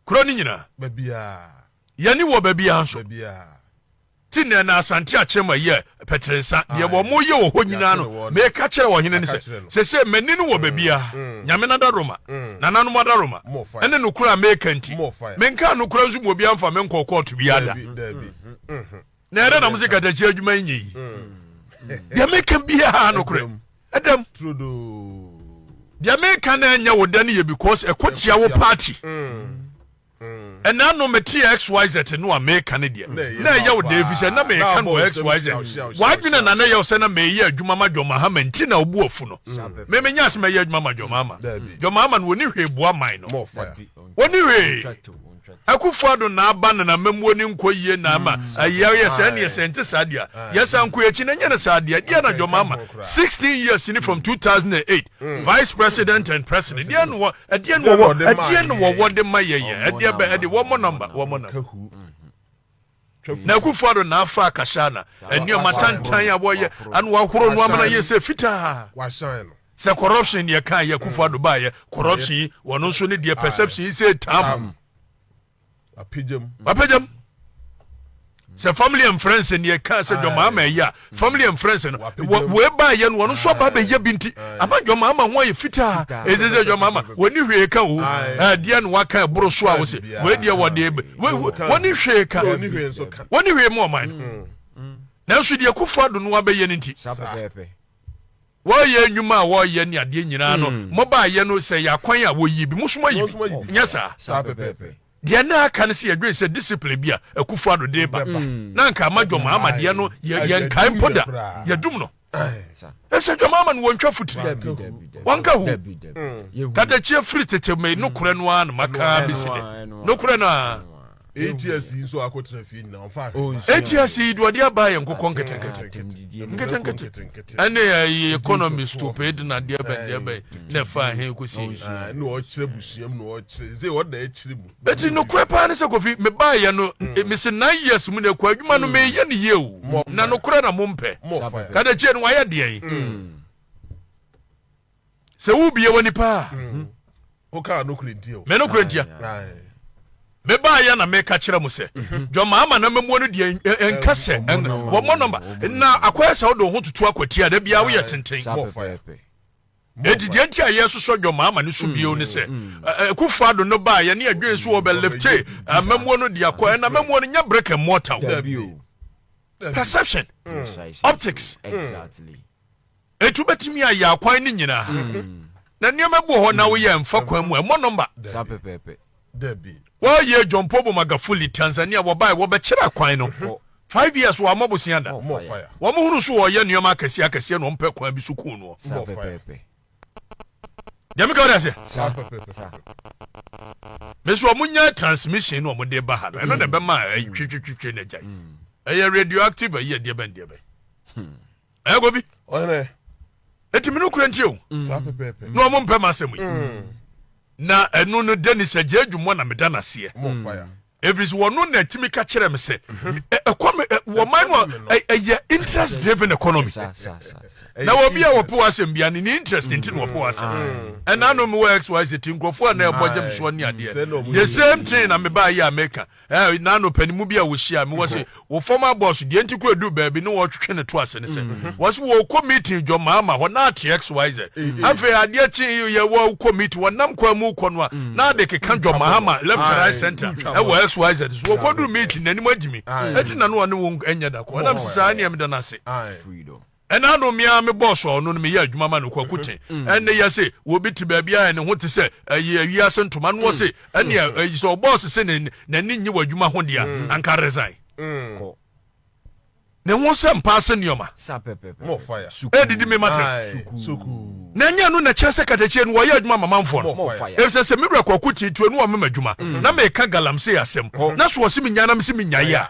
Kuro no nyinaa. Yɛne wɔ baabiara nso. Ti nnɛ na Asante Akyema yɛ pɛtere nsa. Deɛ wɔyɛ wɔ hɔ nyinaa no, meka kyerɛ ɔhene no sɛ, sese m'ani no wɔ baabiara. Mm. Nyame no adaworoma, mm. nananom adaworoma, ɛne nokorɛ a meka nti. Menkaa nokorɛ nso ma obiara mfa me nkɔɔ kɔɔto biara da. Mm-hmm. Mm-hmm. na ɛdɛ na mo se katakyi adwuma nyɛ yi deɛ meka biaa nokorɛ ɛdam deɛ meka na ɛnyɛ wo dɛ no yɛ because ɛkɔ tia wo party ɛna no mete xyz no a meka no deɛ na ɛyɛ wo dɛ ɛfiri sɛ na meka no wɔ xyz wadwene na na ɛyɛ wo sɛ na meyɛ adwuma ma dwɔmahama nti na wobu afu no memenya sɛ mɛyɛ adwuma ma dwɔmahama dwɔmahama no wɔni hwee boa man no wɔni hwee Akufo-Addo n'aba na n'amammuo ne nkɔ yie na ɛma ayia yɛ saa nie sɛ ɛnte saa deɛ a yɛsan kɔ akyi na ɛnyɛ no saa deɛ deɛ na dwom ama 16 years ni from 2008 vice president and president deɛ na wɔ ɛdeɛ na wɔwɔ ɛdeɛ na wɔwɔ de ma yɛn yɛn ɛdeɛ bɛ ɛde wɔmmɔ number wɔmmɔ number Na Akufo Addo na afa akasa na nneɛma tantan a wɔyɛ ano wahoro no ama no ayɛ sɛ fitaa. Sɛ corruption deɛ kan yɛ Akufo Addo baayɛ corruption yi wɔn nso ne deɛ perception yi sɛ tam. Wapegyam. Sɛ family and friends deɛ kan sɛ John Mahama ɛyɛ a family and friends no wei baayɛ no wɔn nso aba abɛyɛ bi nti ama dwama ama ho ayɛ fitaa ɛsɛ sɛ dwama ama wɔni hwee ka o ɛdeɛ na waka ɛboro so a wɔsɛ wei deɛ wɔde wɔni hwee ka wɔni hwee mu ɔman no nanso deɛ kofo ado no abɛyɛ no nti Wɔyɛ nnwuma a wɔyɛ ne adeɛ nyinaa no, hmm. mobaayɛ no sɛ yɛ akwan a wɔyie bi, mosom ayi bi. Nyɛ saa. Saa pɛpɛɛpɛ. Deɛ na aka no sɛ yɛdwen sɛ discipline bi a akufo ado de ba na nka ama dwɔma ama deɛ no yɛnkae mpo da yɛdum no ɛsɛ dwama ama no wɔntwa fotiri wɔnka ho mm. kadakyia firi tete me nokorɛ no a na makaa bɛsi dɛ nokorɛ no a ATS yi nso akɔtena fie nyinaa ɔmfa ahwɛ. ATS yi deɛ ɔde aba yɛ nkokɔ nketenkete nketenkete ɛne ɛyɛ economy stupid na deɛ bɛn deɛ bɛn na ɛfa ahe kɔsi yi. ɛna ɔkyerɛ busua mu na ɔkyerɛ nse ɔda akyire mu. eti nokorɛ paa ne sɛ kofi mebaayɛ no hmm. mesi nine years mu na ɛkɔ adwuma no hmm. meyɛ ne yie o na nokorɛ na mompɛ kadekyie no wayɛ deɛn. Hmm. sɛ wobie w'ani paa mm. wokaa nokorɛ nti o me nokorɛ ntia mebaayɛ na meka kyerɛ mo sɛ mhm. dwama ama na mamuo no deɛ ɛnka sɛ wɔmmɔ nɔmba na akɔyɛ sɛ wode wo ho tutu akwatia da biaa woyɛ tenten ɛdi deɛ nti a yɛsosɔ dwama ama no so mm, bio ne sɛ mm, mm. kufa do no baayɛ ne adwene so wɔbɛlifte mamuo no de akɔ ɛna mamuo no nyɛ brick and mortar perception optics exactly. Etu betumi ayɛ akwan no nyinaa. Na nneɛma bi wɔ hɔ na woyɛ mfa kwan mu a ɛmmɔ nɔmba. Saa pɛpɛɛpɛ. Dabi. Wɔyɛ John Pobo Magafuli, Tanzania, wɔbae wɔbɛkyerɛ akwan no. Five years wɔammɔ bosea da. Wɔn hunu so wɔyɛ nneɛma akɛseɛ akɛseɛ na wɔmpɛ kwan bi so kuu noɔ. Saa pɛpɛɛpɛ. Deɛ meka wɔde aseɛ. Saa pɛpɛɛpɛ. Mesi wɔn nya transmission na wɔn de ba ha no ɛno na ɛbɛma ɛtwitwitwitwe na agyae. Ɛyɛ radioactive ɛyɛ deɛ bɛn deɛ bɛn. ɛkɔ bi ɔhene ɛti me no kura nti o mm. saa pɛpɛpɛ na ɔmo mpɛ m'asɛm yi mm. na ɛno no denis agye adwuma na meda no aseɛ ɛfiri sɛ wɔno na ɛtumi ka kyerɛ me sɛ mhm. ɛkɔ me wɔman no ɛyɛ interest driven economy na wɔbi a wɔpo asɛm bia ne ne interest nti na wɔpo asɛm mm. ɛna no mewɔ xyz ti nkurɔfoɔ a na ɛbɔ gyam soɔ ne adeɛ the same thing na mebaa yɛ a meka Eh, nano panin mu bi a wɔhyia me wɔse wo former boss deɛ nti kɔ ɛduru baabi ne wɔtwetwe ne to ase ne sɛ wɔse wɔkɔ meeting dwɔ maama hɔ na ate xyz afei adeɛ kye yɛ wɔkɔ meeting wɔnam kwan mu kɔ no a na ade keka dwɔ maama left and right center ɛwɔ xyz so wɔkɔduru meeting n'anim agyimi ɛti nano ɔne wo ɛnyɛ da kɔ ɛnam sɛ saa nneɛm da no ase Ɛna ano me ara me boss a ɔno no meyɛ adwuma ma no Kwaku Te. Ɛnne yɛ se obi te baabi a ne ho te sɛ ayi awiase ntoma no ɔse ɛnea ayi sɛ ɔboss se ne n'ani nnye w'adwuma ho de a anka resign. Kɔ. Ne ho sɛ mpaase nneɛma. Sa pɛpɛpɛ. More fire. Suku. Ɛdidi me mate. Suku. Suku. Na ɛnyɛ ɛno na ɛkyerɛ sɛ katakyie no wɔyɛ adwuma ma manfoɔ no. More fire. Efisɛ sɛ me wura Kwaku Te tu anu a ɔmema adwuma na meka galamsey asɛm na so ɔse menyae na mese menyae a.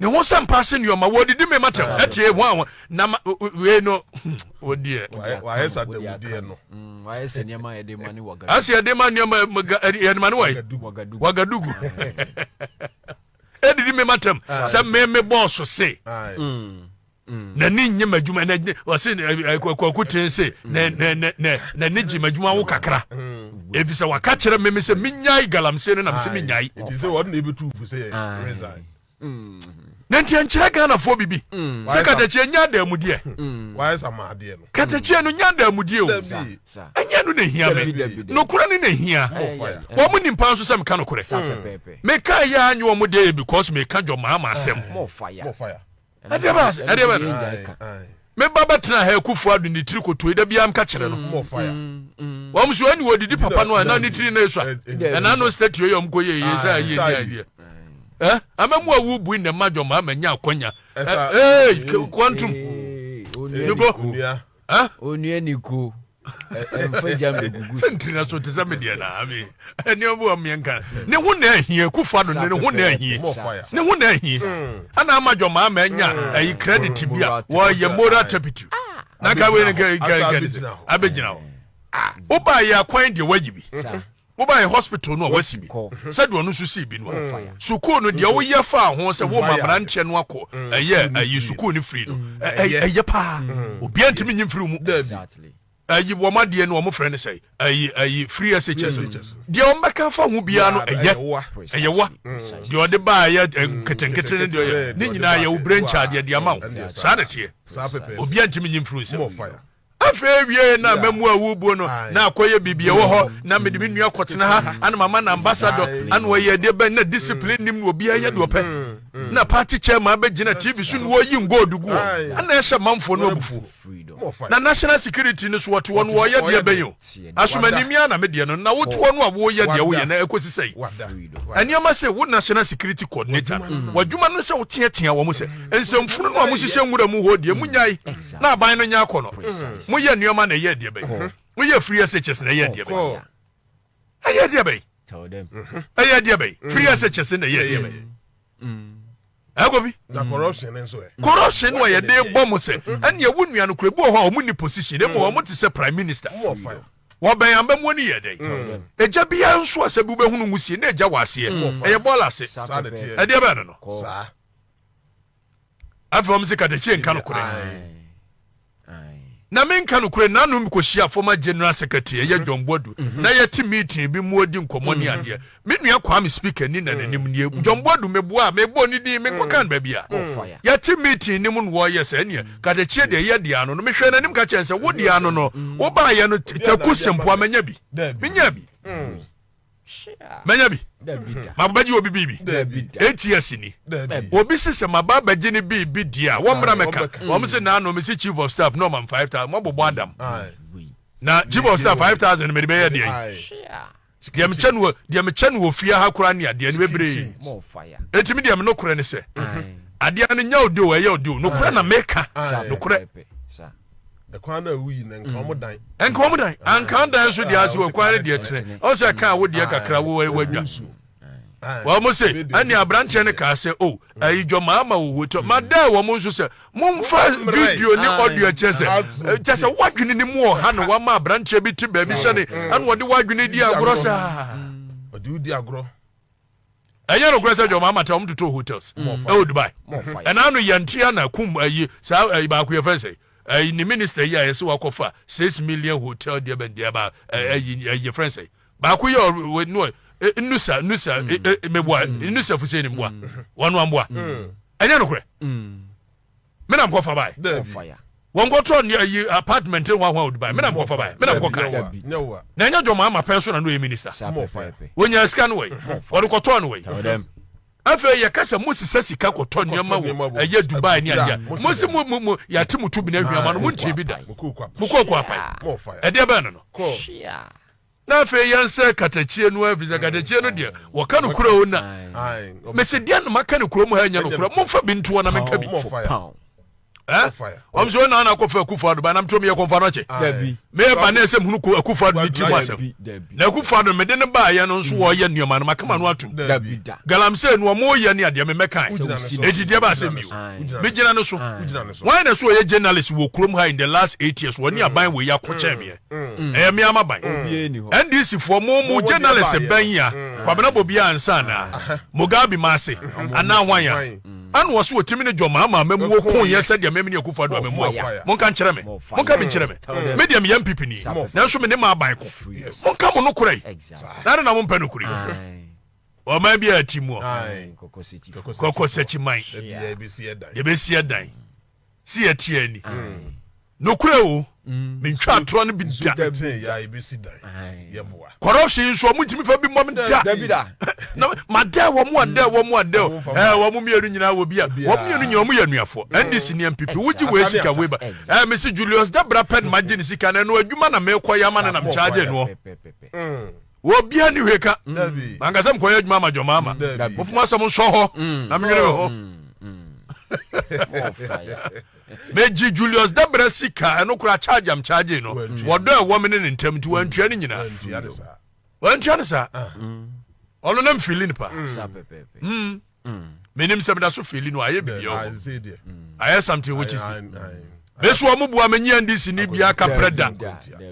ne ho sɛ mpa ase nneɛma wɔdidi me matam atie ho a na wei no wɔdeɛ wayɛ sɛ dawudeɛ no mm, wayɛ sɛ nneɛma yɛde ma ne wagadugu ase yɛde ma nneɛma yɛde ma ne wayi wagadugu ɛdidi me matam sɛ me me bɔɔso se mm. n'ani nye m'adwuma na ɔse kwaku tene se n'ani gye m'adwuma ho kakra ɛfiri sɛ waka kyerɛ meme sɛ menyae galamsey no nam sɛ menyae na nti ɛnkyerɛ ghanafoɔ biribi sɛ katakyi ɛnyɛ adaamudeɛ katakyiɛ no nyɛ adaamudeɛ o ɛnyɛ no na ɛhia me nokorɛ no na ɛhia wɔ mo nimpa nso sɛ meka nokorɛ meka yɛ anyɛ ɔmo deɛ yɛ because meka dwɔ maa ma asɛm ɛdeɛ bɛ ase ɛdeɛ bɛ me ba bɛ tena ha ekufu ado ne tiri koto yi da bi anka kyerɛ no mm, mm, mm. wɔn so ɛni wɔdidi papa no a ɛna ne tiri na esua ɛna no state yɛ wɔn ko yɛ yɛ sɛ ayɛ ni adeɛ ɛ ama mu awu bui na ɛma dwom ama nya akɔnya ɛ ee kɔntum nibo ɛ onua niko ɛmfa gya mbɛgugu sɛntiri na so te sɛ me deɛ na ame ɛnneɛma bi wɔ mmeɛ nka ne ho na ahie kufa do ne ho na ahie ne ho na ahie ana ama dwɔmaa ma anya ayi credit bi a wɔyɛ moral turpitude na nka wei ne nka nka nka abɛgyina hɔ wobaa yɛ akwan deɛ wayi bi Wobae hospital no a wɔasi bi sɛdeɛ ɔno nso sii bi no a, sukuu no deɛ woyɛ faa ho sɛ woma mmeranteɛ no akɔ ɛyɛ ayi sukuu no firi no ɛyɛ paa obiara ntumi nyi mfiri mu ayi wɔn adeɛ no wɔn frɛ no sɛ ayi ayi free SHS no deɛ wɔn bɛka fa ho biara no ɛyɛ ɛyɛ wa deɛ ɔde baa ɛyɛ nketenkete no deɛ ɔyɛ ne nyinaa yɛ wo brain charge yɛ deɛ ama wo saa na teɛ obiara ntumi nyi mfiri nsɛm afei awiei na mamu awubuo no na akɔyɛ biribi ɛwɔ hɔ na mede me nua kɔtena ha ana mama no ambassador ana ɔyɛ deɛ bɛn na discipline nim no obiara yɛ deɛ ɔpɛ na party chairman bɛgyina tv so na wɔyi ngold gu hɔ ana ɛhyɛ manfoɔ no abufuo na national security no so wɔte hɔ no wɔyɛ deɛ bɛn o asomani mia na medeɛ no na wote hɔ no a woyɛ deɛ woyɛ na ɛkɔsi sɛ yi ɛnneɛma sɛ wo national security coordinator no wadwuma no sɛ woteatea wɔn sɛ nsɛmfunu no a mohyehyɛ nwura mu hɔ deɛ munyae na aban no nyɛ akɔ no mm-hmm. moyɛ nneɛma na ɛyɛ adeɛ bɛyi mm-hmm. moyɛ free SHS na ɛyɛ adeɛ bɛyi ɛyɛ adeɛ bɛyi mm-hmm. ɛyɛ adeɛ bɛyi free SHS na ɛyɛ adeɛ bɛyi ɛkɔfi corruption no a yɛde bɔ mo sɛ ɛneɛ wo nua no kura bi wɔ hɔ a ɔmo ni position ɛmu ɔmo te sɛ prime minister wɔbɛn abɛmuo no yɛ dɛn mm. ɛgya biara nso a sɛ bi wobɛhunu mu sie na ɛgya wɔ aseɛ mm. ɛyɛ bɔɔl ase ɛdeɛ bɛɛ no no afei wɔn se Katakyi nka nokorɛ na menka nokorɛ nanom kɔhyia former general secretary ɛyɛ John Boadu mhm. na yɛte meeting bi mu adi nkɔmmɔ ne mhm. adeɛ me nua Kwame speaker ni na n'anim nie mhm. John Boadu meboa a mebɔ ne din menkɔka no baabi a yɛte meeting ne mu no wɔyɛ sɛ ɛneɛ Katakyi deɛ yɛ deɛ ano no mehwɛ n'anim ka kyɛn sɛ wo deɛ ano no wobaayɛ no taku sempoa manya bi menya bi mɛnya bi maba bɛgye obi biribi enti asi ni obi se sɛ maba bɛgye ne biribi deɛ a wɔmmra mɛka wɔm se naano me se chief of staff na ɔmam 5000 mɔbobɔ adam na chief of staff 5000 mede bɛyɛ deɛ deɛ mekyɛ no deɛ mekyɛ no wɔ fie ha koraa ne adeɛ no bebree ɛtumi deɛ menokorɛ ne sɛ adeɛ no nya ode o ɛyɛ ode o nokorɛ na meka nokorɛ ɛkwan no a ɛwu yi na nka wɔn dan. nka wɔn dan anka wɔn dan nso deɛ ase wɔ kwan no deɛ kyerɛ ɔsɛ ɛka a wodeɛ kakra wo ɛwɔ adwa wɔn mo se ɛne aberanteɛ no kaa sɛ o ɛyi dwɔ maa ma wɔ hotel ma dɛ wɔn nso sɛ mo nfa video ne audio kyɛ sɛ kyɛ sɛ wadwene ne mu ɔha no wama aberanteɛ bi te baabi sɛ ne ɛna ɔde wadwene di agorɔ saa ɔde di agorɔ ɛnyɛ nokorɛ sɛ dwɔma amata wɔn totoo hotels mm. ɛwɔ dubai ɛna ano yantria na kum ayi saa ayi baako yɛ fɛn sɛ ayi ne minister yi a yɛsɛ wakɔfa six million hotel deɛ bɛn deɛ ba ayi mm. ayi yɛ fɛn sɛ baako yɛ ɔwɔ no e, nusa nusa mm. e, e, meboa nusa fusɛ ne mboa wɔn amboa ɛnyɛ nokorɛ. me na mekɔfa bae wɔnkɔtɔ ne ayi apartment ne hwahoa ɔde bae me na mekɔfa bae me na mekɔkae na ɛnyɛ dwɔma ama pɛn so na no yɛ minister wɔnya sika no wɔi wɔde kɔtɔɔ no wɔi afei yɛka sɛ mosesa sika kɔtɔ nneɛma wɔ ɛyɛ dubai ne adeɛ mosi mo mo mo yɛate mo tu bi na ahwiama no montie bi da mokɔkɔ apae ɛdeɛ bɛn no no na afei yɛnsɛ katakyie no ɛfiri sɛ katakyie no deɛ wɔka no kura o na mese deɛ na maka no kurom ha nyɛ no kura momfa bi ntoɔ na menka bi ɔm sɛ ɔna na akɔfa akufo ado banam tom yɛ kɔmfa no akyɛ meyɛ ba ne ɛsɛ mhunu akufo ado ne tirim asɛm na akufo ado mede ne baayɛ no nso wɔyɛ nneɛma no makama no atom galamsey no ɔmoyɛ ne adeɛ memɛkae ɛdidiɛ ba asɛm bio megyina no so wɔn na sɛ ɔyɛ journalist wɔ kurom ha in the last eight years wɔne aban wɔ yi akɔkyɛn meɛ Ɛyɛ me amaban. NDC foɔ mo mo journalism bɛn yi a Kwabena bɔ biaa nsa anaa? Mugabe ma ase anaa hwan a ɛna ɔse otimi ne John Mahama amamuo koo yɛ sɛdeɛ meme ne Akuffo Addo amamuo ko? Monka nkyerɛ me. Monka bi nkyerɛ me. Me deɛ meyɛ NPP ni nanso mene m'aban ko. Monka mo nokorɛ yi. Na adɛn na mompɛ nokorɛ yi? Ɔman biaa ti muɔ. Kɔkɔsɛkyiman. Yɛbɛsi ɛdan. si yɛ tia ani. Nokura o, mm. me ntwa atorɔ no bi da. Corruption nso ɔmo ntumi fa bi mmɔ me da. Na ma dɛ wɔn a dɛ wɔn a dɛ ɛɛ eh, wɔn mmienu nyinaa wɔ bi a wɔn mmienu nyinaa wɔn yɛ nuafoɔ. NDC ni MPP wogye wɔ esika wei ba. Ɛɛ mesi Julius Dabra pɛ na ma gye ne sika na ɛno adwuma na mekɔ yɛ ama na nam charge noɔ. wɔ bia ni hwɛ ka manka sɛ mkɔyɛ adwuma ama dwɔma ama mofo mo asɛm nsɔ hɔ na menwene me ho megye julius dabra sika ɛno kora charge am charge no wɔdɔ ɛwɔ me ne ne ntam nti wantua ne nyinaa wantua ne saa ɔno na mfili no paa menim sɛ meda so fili no ayɛ biribi ɛwɔ mm. ayɛ something which is me so ɔmo bua me nyɛ ndc ni bia kaprɛ da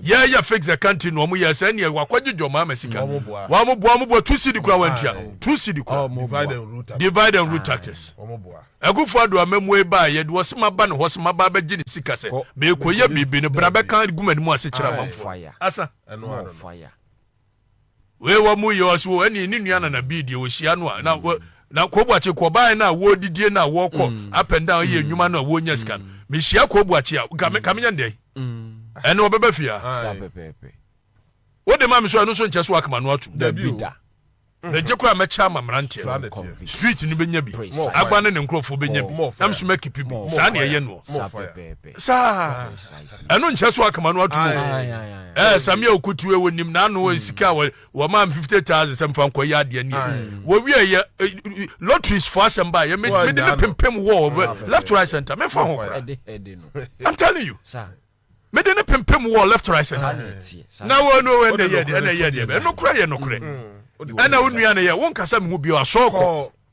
yɛyɛ fix the country na ɔmo yɛ sɛ ɛneɛ wakɔgye dwɔ maa ma sika wɔn bua wɔn bua two cd kura wɔn tua two cd kura divide and rule tactics ɛkufo ado amamu eba yɛ de wɔsi ma ba ne hɔ si ma ba bɛgye ne sika sɛ mɛkɔ yɛ biribi ne bra bɛka guma ne mu ase kyerɛ amanfo asa ɛno ano Wei wɔ mu yɛ ɔsi wɔ ɛni ne nua nana bii deɛ ɔhyia no a na wɔ na kobuakye kɔbaeɛ no a wɔredidie no a wɔrekɔ up and down yɛ nnwuma no a wɔnya sika no mehyia kobuakye a kame kame nya ndɛn ɛne ɔbɛbɛ fie a wode ma me so ɛno nso nkyɛ so akama no atum dabi da mɛgye koraa mɛkyɛ ama mmeranteɛ no street no bɛnya bi agba ne ne nkurɔfoɔ bɛnya bi nam so mɛkipi bi saa ne ɛyɛ noɔ saa ɛno nkyɛ so akama no atom ɛɛ samia okutu ɛwɔ nim n'ano mm. nsika a wɔmaa m fifty thousand sɛ nfa nkɔ yɛ adeɛ nie wɔwie yɛ lotteries fo asɛm ba yɛ mede ne pempem wɔ left right center mefa ho kora i'm telling you mede ne pempem wɔ left right center na wɔn no ɛna yɛ deɛ ɛna yɛ deɛ ɛno kora yɛ no korɛ ɛna wo nua no yɛ wo nkasa mi ho bio asɔɔkɔ.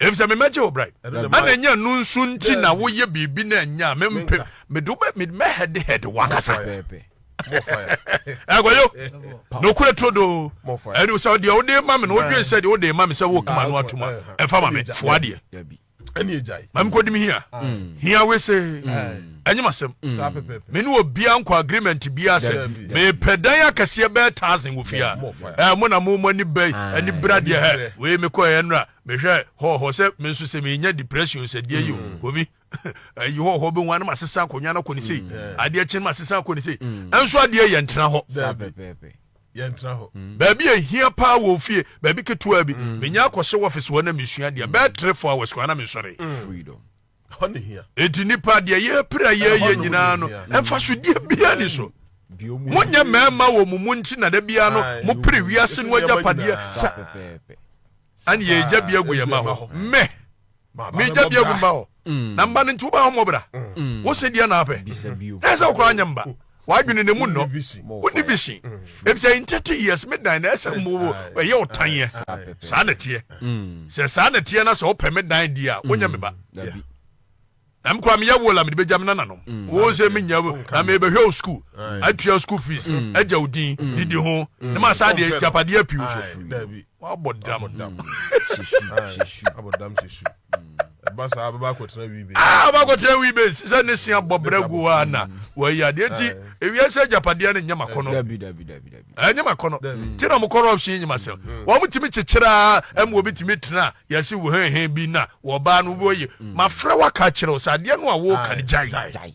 efisɛ me mɛgye wo brɛ ɛna ɛnyɛ no nso nti na woyɛ biribi na ɛnyɛ a mempɛ mede wo mɛhɛdehɛde wankasa ɛgɔyo na okura turo do ɛne sɛ deɛ wode ma me no wodwen sɛ deɛ wode ma me sɛ wokama no atoma ɛfa ma me foa deɛ mame kɔdim hia hia wese Ɛnyem asɛm. Me ne obia nkɔ agreement bia sɛ mepɛ dan akɛseɛ bɛɛ thousand wɔ fie a. Ɛɛ mo na mo mo ani bɛn ani bra deɛ hɛ wei me kɔɛ ɛnra mehwɛ hɔ hɔ sɛ me nso sɛ menya depression sɛ deɛ yi o komi ayi hɔ hɔ bɛhu anam asesa akonnwa no akɔ ne sei adeɛ kyen ma asesa akɔ ne sei ɛnso adeɛ yɛ ntena hɔ yɛntena hɔ mm. baabi ɛhia paa wɔ fie baabi ketewa bi mm. menya akɔhyɛ wɔfese hɔ na mesua deɛ bɛɛ tre fo hours kɔ ana mesɔre mm. Ɛhɔ ne hia. Enti nnipa, deɛ yɛrepere a yɛreyɛ nyinaa no, mfasodeɛ biara ni so. Monyɛ mmarima wɔ mo mu nti na da biara no mopere wiase no agyapadeɛ sa ɛne yɛn agya bi agu yɛn mma hɔ. Mɛ megya bi agu mma hɔ. Mm. Na mma no nti wobɛahommɔbra. Mm. Wo se deɛ na apɛ. Na ɛsɛ wokora nyɛ mba. W'adwene na mu nnɔ. Wonni vision. Mm. Ebisɛ in thirty years me dan na ɛsɛ mo ɛyɛ ɔtan yɛ. Saa na ɛteɛ. Mm. Sɛ saa na ɛteɛ na sɛ ɔpɛ me dan di a, wonya me ba. Mm. Na me kora meyɛ wola mede bɛgya me nananom. Mm. Wo sɛ menya na mebɛhwɛ wo school. Atua school fees. Agya wo din. Didi ho. Ne ma saa deɛ japadeɛ apiw so. Wabɔ dam. Abɔ dam hyɛ su. ɛba saa bɛba akɔtena wii base. aa ɔba akɔtena wii base sɛ ne se abɔ brɛ gu a na wɔyɛ adeɛ nti ewiase agyapadeɛ no nyɛ ma kɔnɔ ɛnyɛ ma kɔnɔ nti na ɔmo corruption nyɛ ma sɛm wɔn mo tumi kyekyere a ɛmo obi tumi tena yɛsi wo hɛn hɛn bi na wɔbaa no wɔyɛ ma frɛ waka kyerɛw sɛ adeɛ no a wɔka no gyae.